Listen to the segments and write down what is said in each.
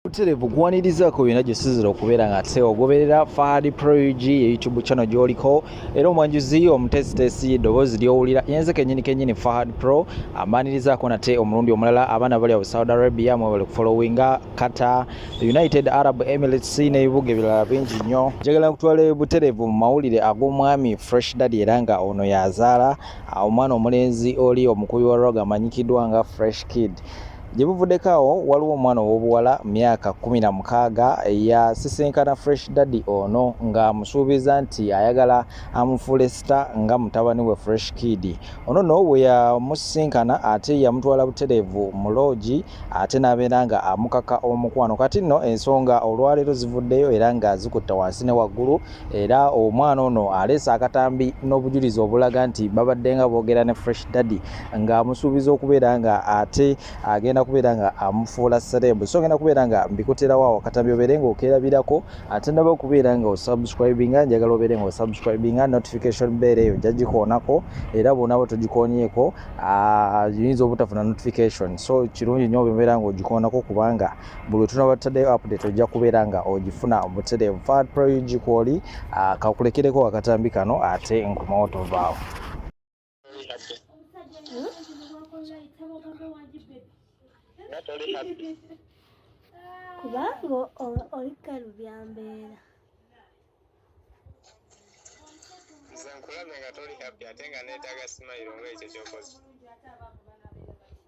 buterevu kuwanirizaako byonna gye sizira okubeera nga te ogoberera fahad prog yeyoutube channel gyoliko era omwanjuzi omuteesiteesi eddoboozi lyowulira yenze kenyini kenyini fahad pro amaanirizaako nate omulundi omulala abaana bali awo saudi arabia mwebali kufollowinga kata united arab emirates n'ebibuga ebirala bingi nnyo njagala kutwala buterevu mu mawulire ag'omwami fresh daddy era nga ono yazaala omwana omulenzi oli omukubi wa rog amanyikiddwa nga fresh kid Gye buvuddeko awo waliwo omwana ow'obuwala myaka kkumi na mukaaga eyasisinkana Fresh Daddy ono ng'amusuubiza nti ayagala amufuule sita nga mutabani we Fresh Kid. Ono no bwe yamusisinkana ate yamutwala butereevu mu loogi ate n'abeera nga amukaka omukwano. Kati nno ensonga olwaleero zivuddeyo era nga zikutta wansi ne waggulu. era omwana ono aleese akatambi n'obujulizi obulaga nti babadde nga boogera ne fresh daddy ng'amusuubiza okubeera nga ate agenda kubeera nga amufuula serebu so ngenda kubeera nga mbikuterawo awo akatambi obeere nga okerabirako ate ndaba okubeera nga osubscribinga njagala obeere nga osubscribinga notification beera eyo jagikoonako era bwonaba togikoonyeeko ah, yinza obutafuna notification so kirungi nyo obeera nga ogikoonako kubanga buli tunaba tutaddeyo update ojja kubeera nga ogifuna obutereevu fat proyugi kwoli ah, kakulekereko akatambi kano ate nkomawo tovaawo kubanga oli kalu byambeera nze nkulabye nga toli happy ate nga neetaaga simayiro ngaekyo kyokozi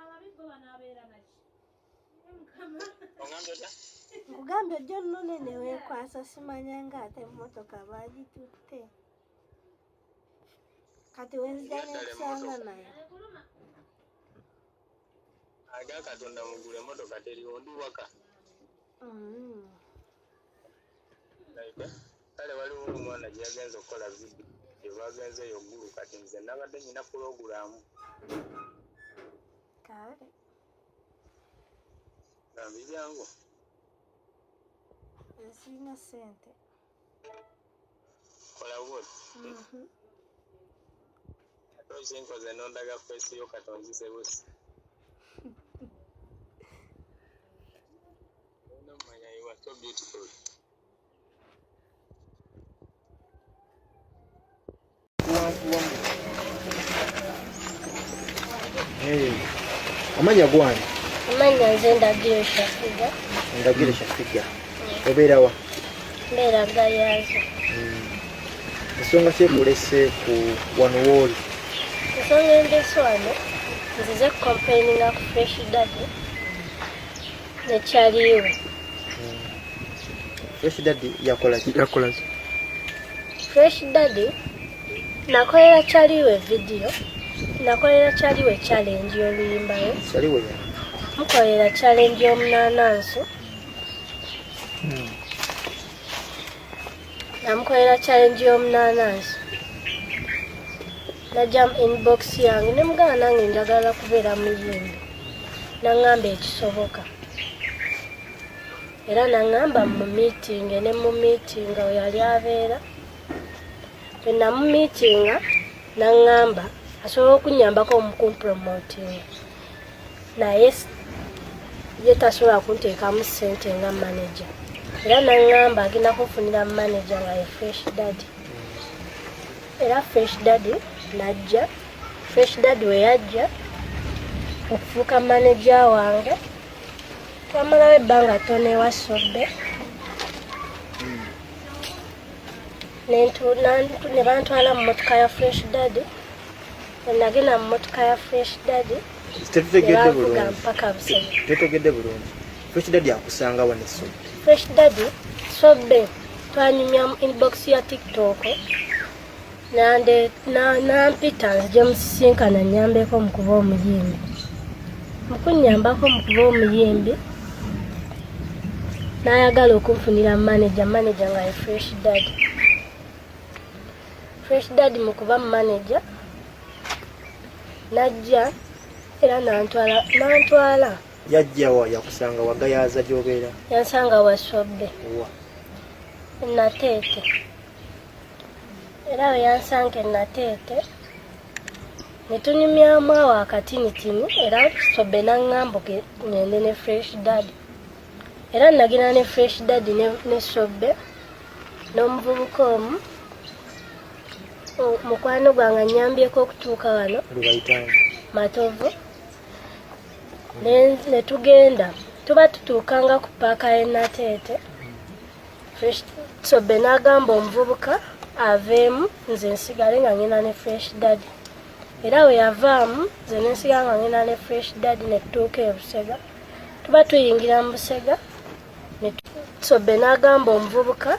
ababi bo banaabeera naki nkugambye ojja onnone ne weekwasa simanya nga ate emmotoka baagitutte kati wenzija nekusanga nayo aga katonda mugula emotoka teriwo ndi waka mm. kale waliwo omwana gyeyagenza okukola vidiyo gyebagenza eyo gulu kati nze nabadde nyina pulogulaamu kale bambi byangu nsirina sente kola bwoti mhm. ate okinkoze nondaga fesi yo katonzise busi No, my, you are so beautiful. amanya gwani amanya nze ndagire shafiga ndagire shafiga mm. obeera wa mbeera gayaza mm. ensonga kyekulese ku wano wooli ensonga endese wano nzize kukompaininga ku fresh dadi ekyaliwo fresh daddy yakolaki yakolaki fresh daddy nakolera kyaliwo evidiyo nakolera kyaliwo challenge y'oluyimbayo kyaliwo ya mukolera challenge y'omunaananso hmm. namukolera challenge y'omunaanansi najjamu inbox yange ne mugana nange njagala kubeera muyimbi naŋŋamba ekisoboka era naŋŋamba mu miitinge ne mu miitinga we yali abeera bwe namumiitinga naŋŋamba asobola okunnyambako omukumpromotinga naye ye tasobola kunteekamu ssente nga manaja era naŋŋamba agenda kunfunira manaja nga ye fresh daddy era fresh daddy najja fresh daddy we yajja okufuuka manaja wange twamalawo ebbanga tona ewa sobbe ne bantwala mu motoka ya fresh daddy nagenda mu motoka ya fresh daddy tetutegedde bulungi mpaka busebe tetutegedde bulungi fresh daddy akusanga wa ne sobe fresh daddy sobe twanyumya mu inbox ya tiktok nande nampita nzije musisinkana nyambeko mu kuba omuyimbi mukunyambako mu kuba omuyimbi nayagala okunfunira manaja manaja nga ye fresh daddy Fresh Dad mu kuba manager najja era nantwala nantwala yajja wa yakusanga wagayaza gy'obeera yansanga wasobbe wa nateete era we yansanga enateete ne tunyumyamu awo akatini tini era sobbe n'aŋŋambuke ngende ne fresh dad era nagenda ne fresh daddy ne, ne sobbe n'omuvubuka omu mukwano gwange anyambyeko okutuuka wano matovu ne tugenda tuba tutuukanga ku paaka y'enateete fresh sobbe n'agamba omuvubuka aveemu nze nsigale nga ngenda ne fresh daddy era we yavaamu nze nensiga nga ngenda ne fresh daddy ne tutuuka ebusega tuba tuyingira mu busega sobe n'agamba omuvubuka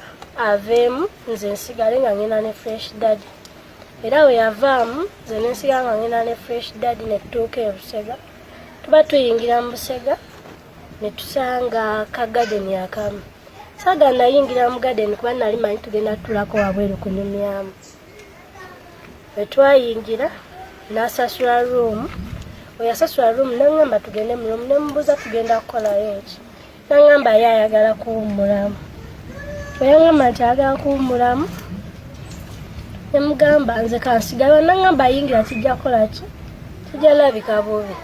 aveemu nze nsigale nga ngenda ne fresh daddy era we yavaamu nze nensiga nga ngenda ne fresh daddy ne tutuuka e busega tuba tuyingira mu busega ne tusanga ka gadeni akamu saga nayingira mu gadeni kuba nali manyi tugenda tutulako wabweru kunyumyamu bwe twayingira n'asasula ruumu oyasasula ruumu nangamba tugende mu ruumu nemubuuza tugenda kukolayo ki nangamba ye ayagala kuwummulamu bwe yangamba nti ayagala kuwummulamu nemugamba nze kansigala nangamba ayingira kijja kukola ki kijja labika bubi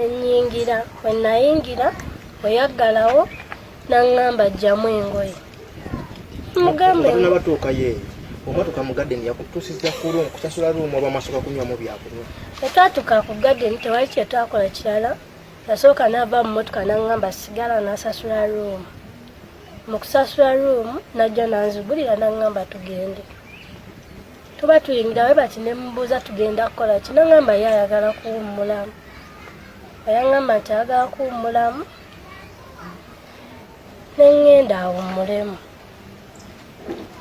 enyingira wenayingira oyaggalawo nangamba jjamu engoye mugambenabatuukayo omwatuka mu gadeni yakutusiza kurum kusasula rumu oba masoka kunywamu byakunywa etwatuka ku gadeni tewali kyetwakola kirala yasooka nava mu motoka nangamba sigala nasasula rumu mu kusasula rumu najja nanzigulira nangamba tugende tuba tuyingira we bati nemubuuza tugenda kukola ki nangamba ye ayagala kuwummulamu ayangamba nti ayagala kuwummulamu ne ŋŋenda awummulemu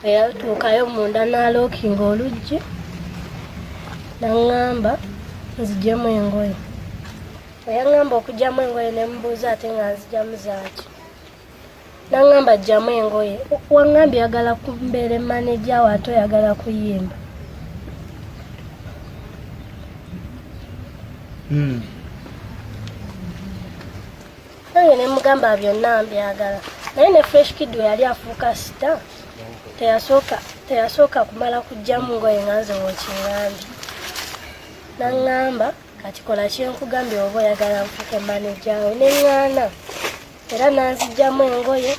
bwe yatuukayo munda n'alookinga oluggi naŋŋamba nzijemu engoye bwe yaŋŋamba okugyamu engoye ne mubuuza ate nga nzijamu zaaki naŋŋamba jjamu engoye waŋŋamba oyagala kumbeere maneja wo ate oyagala kuyimba hmm. Naye ne mugamba byonna mbyagala. Naye ne Fresh Kid we yali afuuka sita teyasooka teyasooka kumala kujjamu ngoye nga nze wokiŋambye. Naŋŋamba kati kola kyenkugambye oba oyagala nfuuke maneja we ne ŋŋaana era nanzijjamu engoye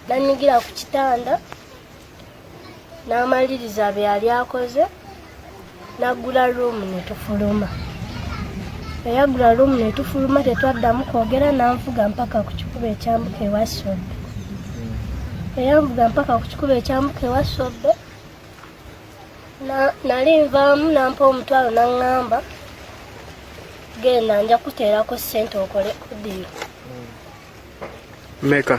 nanyigira ku kitanda n'amaliriza bye yali akoze n'aggula ruumu ne tufuluma eyaggula ruumu ne tufuluma tetwaddamu kwogera n'anvuga mpaka ku kikuba ekyambuka ewa sobbe eyanvuga mpaka ku kikuba ekyambuka ewa sobbe nali nvaamu nampa omutwalo naŋŋamba genda nja kuteerako ssente okole kudiyo meka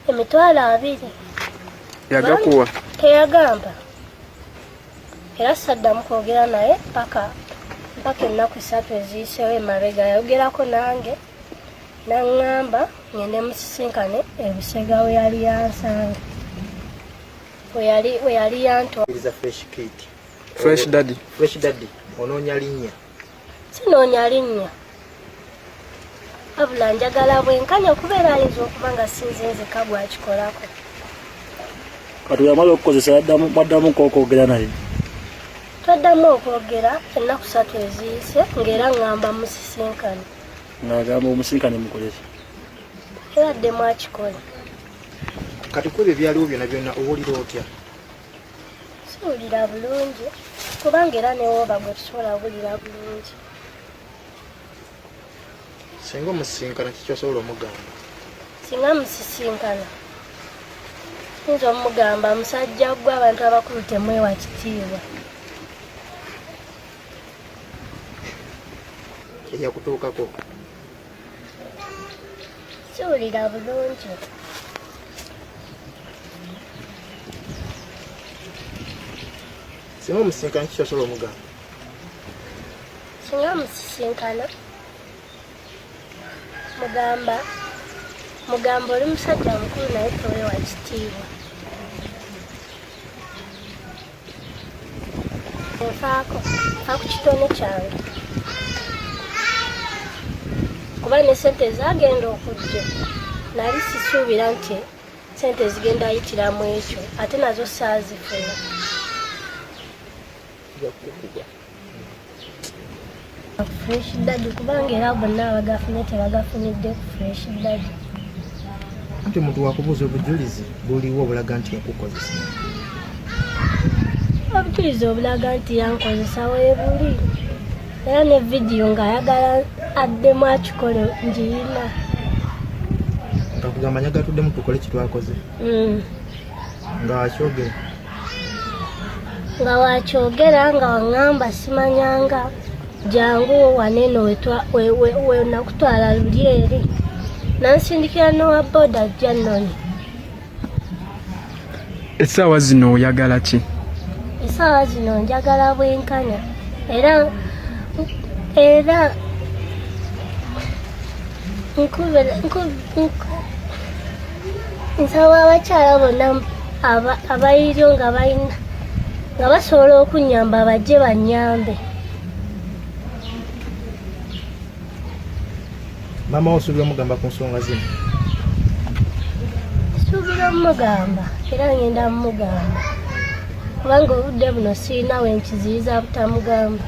emitwalo abiri yagakuwa teyagamba era saddamu kwogera naye paka mpaka ennaku satu eziyiseewo emabega yayogerako nange naŋŋamba ngende musisinkane ebusega we yali yansanga we yali yantofresh dadi onoonya linnya sinoonya linnya wabula njagala bwenkanya okubeera ayinza okuba nga sinze nzeka gwakikolako kati yamala okukozesa mwaddamuko okwogera naye twaddamu okwogera ennaku satu eziyise ngaera ngamba musisinkane ngagamba omusinkane mukoleki era ddemu akikola kati kwebyo byaliwo byona byona owulira otya siwulira bulungi kubanga era newooba gwe tusobola wulira bulungi singa omusisinkana kikyosobola omugamba singa musisinkana nza omugamba musajja gwe abantu abakulu temwewa kitiibwa eyakutuukako Siwulira bulungi. Singa omusisinkana kiki osobola omugamba? Singa omusisinkana mugamba mugamba oli musajja mukulu naye towewa kitiibwa. nfaako nfa ku kitone kyange kuba ne sente ezagenda okujja nali sisuubira nti sente zigenda yitiramu ekyo ate nazo saazifuna fresh daddy kubanga era bonna abagafunye tebagafunidde ku fresh daddy nti omuntu wakubuuza obujulizi buliwo obulaga nti yakukozesa obujulizi obulaga nti yankozesa webuli era ne vidiyo ng'ayagala addemu akikole ngiyina nga kugamba nyagatuddemu tukole kitwakoze mm. nga wakyogera nga wakyogera nga waŋŋamba simanyanga jangu waneno wenakutwala luli eri nansindikira nowa boda ajja nnoni essaawa zino oyagala ki essaawa zino njagala bwenkanya era era nkubira nsaba abakyala bonna abaliryo nga balina nga basobola okunyamba bajje banyambe maama osuubira omugamba ku nsonga zino suubira omugamba era ngenda mumugamba kubanga obudde buno sirina we nkiziyiza butamugamba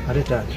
ate taata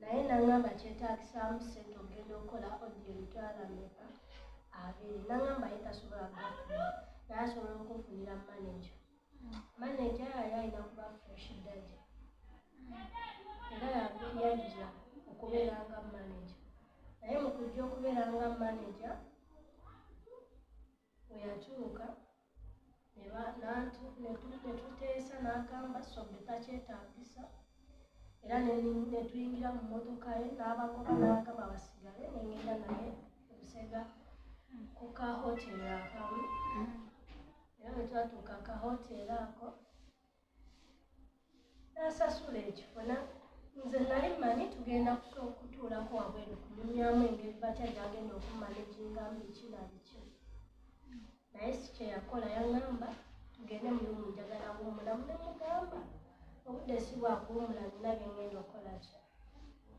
naye nangamba kyetagisaamu sente okugenda okukola odio emitwala meka abiri nangamba ye tasobola kugafuna naye asobola okufunira manaja manaja yali alina kuba fresh dadi era yajja okubeera nga manaja naye mu kujja okubeera nga manaja bwe yatuuka netuteesa n'agamba sobe takyetagisa era netuyingira mu motoka ye n'abagoba n'agamba basigale nengenda naye obusega ku ka hoteri akamu era bwe twatuuka ka hoteri ako nasasula ekifuna nze nali mmanyi tugenda kutuulako wabweru kunyumyamu engeri batya gyagenda okummana ekingamu biki na biki naye si kyeyakola yaŋamba tugende mulimu njagala kuwumulamu nemugamba obudde si bwakuwumula nina byengenda okukola ki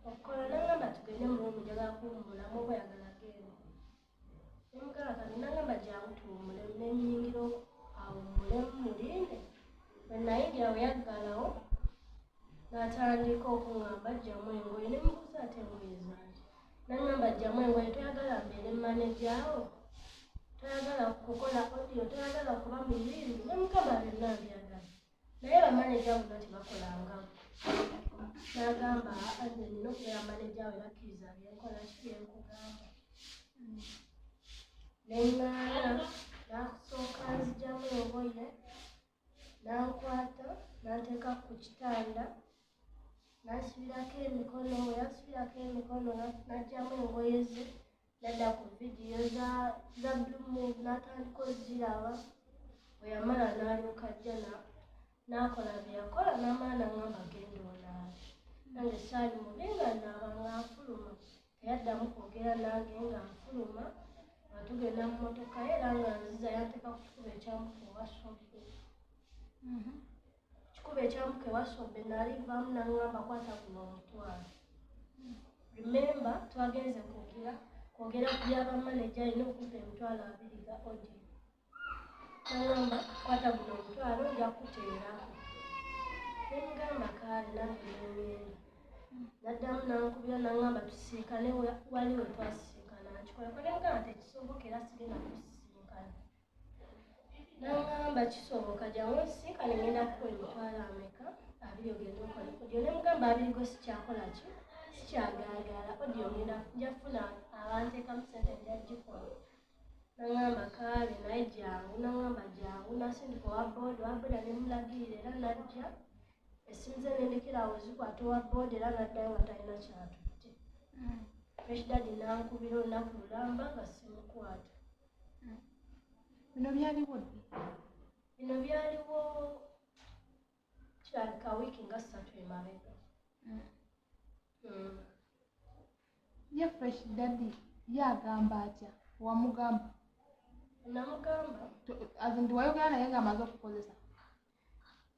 okukola naŋamba tugende mulimu njagala kuwumulamu oba oyagala genda natandika okuŋamba jjamu engoye ne mubuuza ate engoye zange naŋamba jjamu engoye toyagala mbeere manejawo toyagala kukola odio toyagala kuba muyimbi ne mukama byonna mbyagala naye bamaneja muno tebakolanga nagamba anze nina okubeera maneja we bakkiriza byenkola ki byenkugamba neŋŋaana nakusooka nzijamu oboye nankwata nanteeka ku kitanda nasibirako emikono weyasibirako emikono najjamu engoye ze nadda ku vidiyo za za blue move n'atandika oziraba bwe yamala n'alyoka ajja na- n'akola bye yakola n'amala n'aŋamba genda olaabe nange saali mubi nga naaba nga nfuluma teyaddamu kwogera nange nga nfuluma nga tugenda mu motoka ye era nga nziza yanteeka ku kikuba ekyamukuba something Kikuba ekyamuka ewasobbe naali nvaamu nangamba kwata kuno omutwalo. Remember twagenze kwogera kwogera ku byaba maneja alina okumpa emitwalo abiri ga odi. Nangamba kwata guno omutwalo nja kukuteerako. Nemugamba kaali nange nengenda. Naddamu nankubira nangamba tusiikane wali wetwasiikana. Nkikola kola nga nti ekisoboka era sigenda kusi namugamba kisoboka jangu nsisinkane ngenda kukola emitwalo ameka abiri ogenda okola odio nemugamba abiri go sikyakola ki sikyagagala odio ngenda nja funa abantekamu sente nja gikola nangamba kaale naye jangu nangamba jangu nasindika owa booda owa booda nemulagirira era najja esimu ze nendekerawo zikwata owa booda era naddayo nga talina kyatutte mm. fresh dadi nankubira olunaku lulamba nga simukwata bino byaliwo ddi bino byaliwo kirabika wiiki nga ssatu emabega hmm. Hmm. ye fresh daddy ye agamba atya wamugamba namugamba azinti wayogera naye nga amaze okukozesa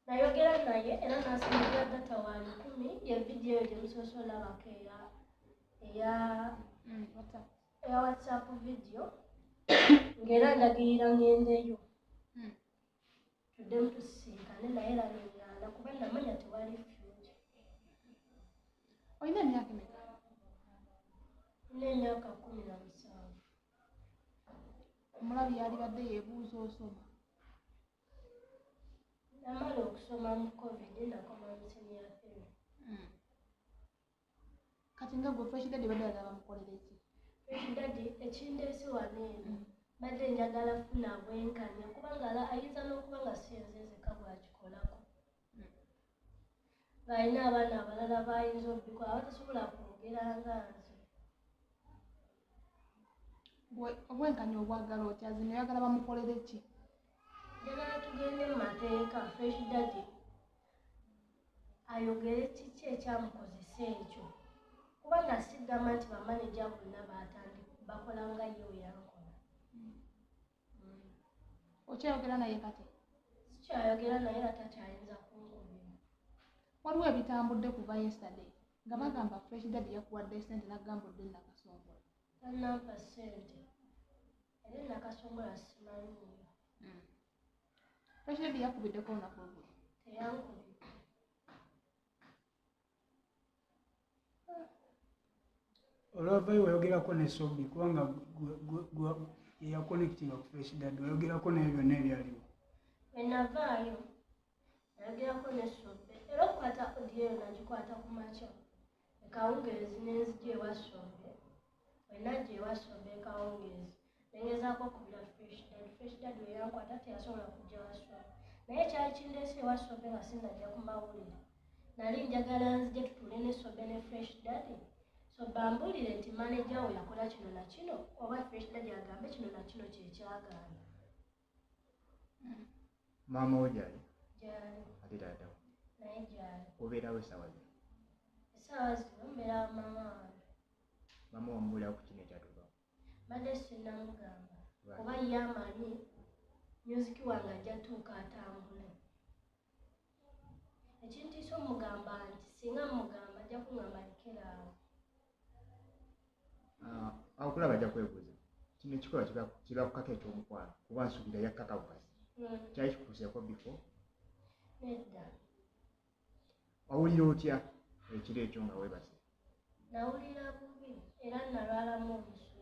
nayogera naye era nasinzira data wa lukumi ye vidiyo gyemusosolabako eya eya hmm, eya whatsapp video ng'era ndagirira ngendeyo hmm. tuddemu tusisinkane naye laneŋŋaana kuba namanya tewali future olina emyaka emeka olina emyaka kumi na musanvu omulabi yalibadde yebuuza osoma namala okusoma mu covid nakoma museniyathero hmm. kati nga gwe fresh daddy badde agaba mukolere ki fresh daddy ekindeese wano eno mbadde njagala funa bwenkanya kubanga la ayinza n'okuba nga siyenzenzeka bwakikolako ng'alina abaana abalala bayinza obikwa abatasobola kwogera nga nze obwenkanya obwagala otya zino oyagala bamukolere ki njagala tugende mu mateeka fresh dadi ayogere kiki ekyamukozesa ekyo kuba nasigamba nti bamaneja bonna bakola nga ye weyakola okyayogera naye kati sikyayogera naye ate akyayinza kungumira waliwo ebitambudde kuva yesterday nga bagamba fresh dad yakuwadde sente nagamba odde nakasongola tanampa sente era nakasongola simanyiyo hmm. fresh dad yakubiddeko olunaku olwo teyankubidde olwavayo wayogerako ne sobi kubanga eyakonekitinga ku fresh dad wayogerako naye byonna ebyaliwo enavaayo nayogerako ne sobi era okukwata odiyo eyo nagikwata ku makya ekawungeezi nenzija ewa sobi Bwe najja ewa Sobe kawungeezi ne ngezaako okubira Fresh Dad. Fresh Dad bwe yankwata teyasobola kujja wa Sobe. Naye kyali kindeese ewa Sobe nga sinnajja ku mawulire. Nali njagala nzije tutuule ne Sobe ne Fresh Dad. Sobe ambuulire nti maneja wo yakola kino na kino oba Fresh Dad agambe kino na kino kye kyagaana. maama wo gyali ate taata wo obeerawo esaawa zino esaawa zino mbeera maama wange maama wamubuulira ku kino ekyatukawo mbadde sinamugamba oba ye amanyi myuziki wange ajja tuuka atambule ekintiisa omugamba nti singa mugamba ajja kungamba lekeraawo ah, akulaba ajja kwebuuza kino ekikola kibakukako ekyomukwano kuba nsuubira yakkakawukazi hmm. kyali kikuseeko bifo nedda wawulira otya ekiro ekyo nga webase nawulira bubi era nalwalamu obusu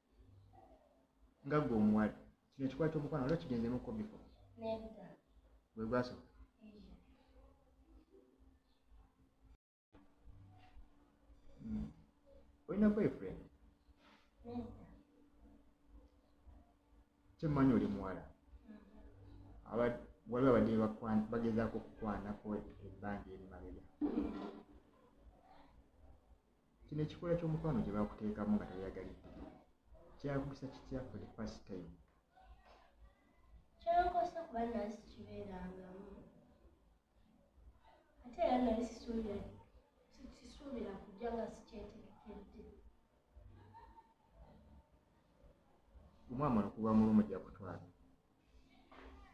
nga gwe omuwala kino ekikwata omukwano waliwo kigenzemu kobiko gwe gwasoka hmm. olina boyfriend kyemmanyi oli muwala waliwo abadde bagezaako okukwanako ebbanja erimabega Kino ekikula ky'omukwano gye baakuteekamu nga tayagalidde kyakusa kitya for the first time? Kyankosa kuba nali sikibeerangamu ate era nali sisuubira sisuubira kujja nga sikyetegekedde. Omwama okuba mulumu gya kutwala.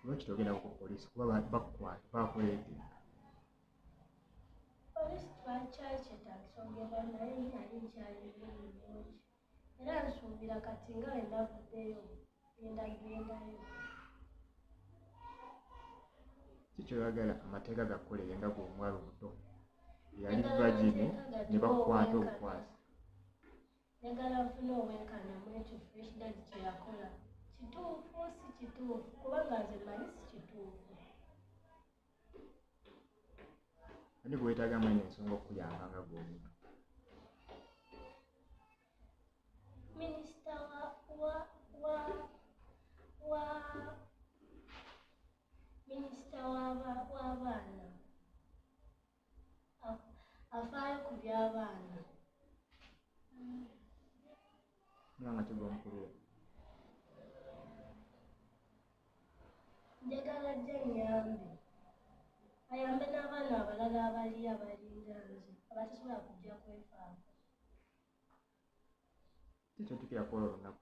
lwaki togenda ku poliisi kuba bakukwata bakuleete poliisi twakyakyetagisa ogenda naye nali nkyalibulungi era nsuubira kati nga wendavuddeyo ngendagendayo kikyoyagala amateeka gakukolere nga gweomwalo omuto yali vagini ne bakukwata obukwasi njagala nfuna obwenkanya mu ekyo fresh dad kye yakola kituufu si kituufu kubanga nze manyi si kituufu ani gwetaaga amanyi ensonga okukuyamba nga gwomuntu minisita wa wa wa wa minisita w'abaana afaayo ku by'abaana mwana kigwa mukulu njagala jja nyambe ayambe n'abaana abalala abali abalinga nze abatasobola kujja kwefaako tetutukira kwolwo lunaku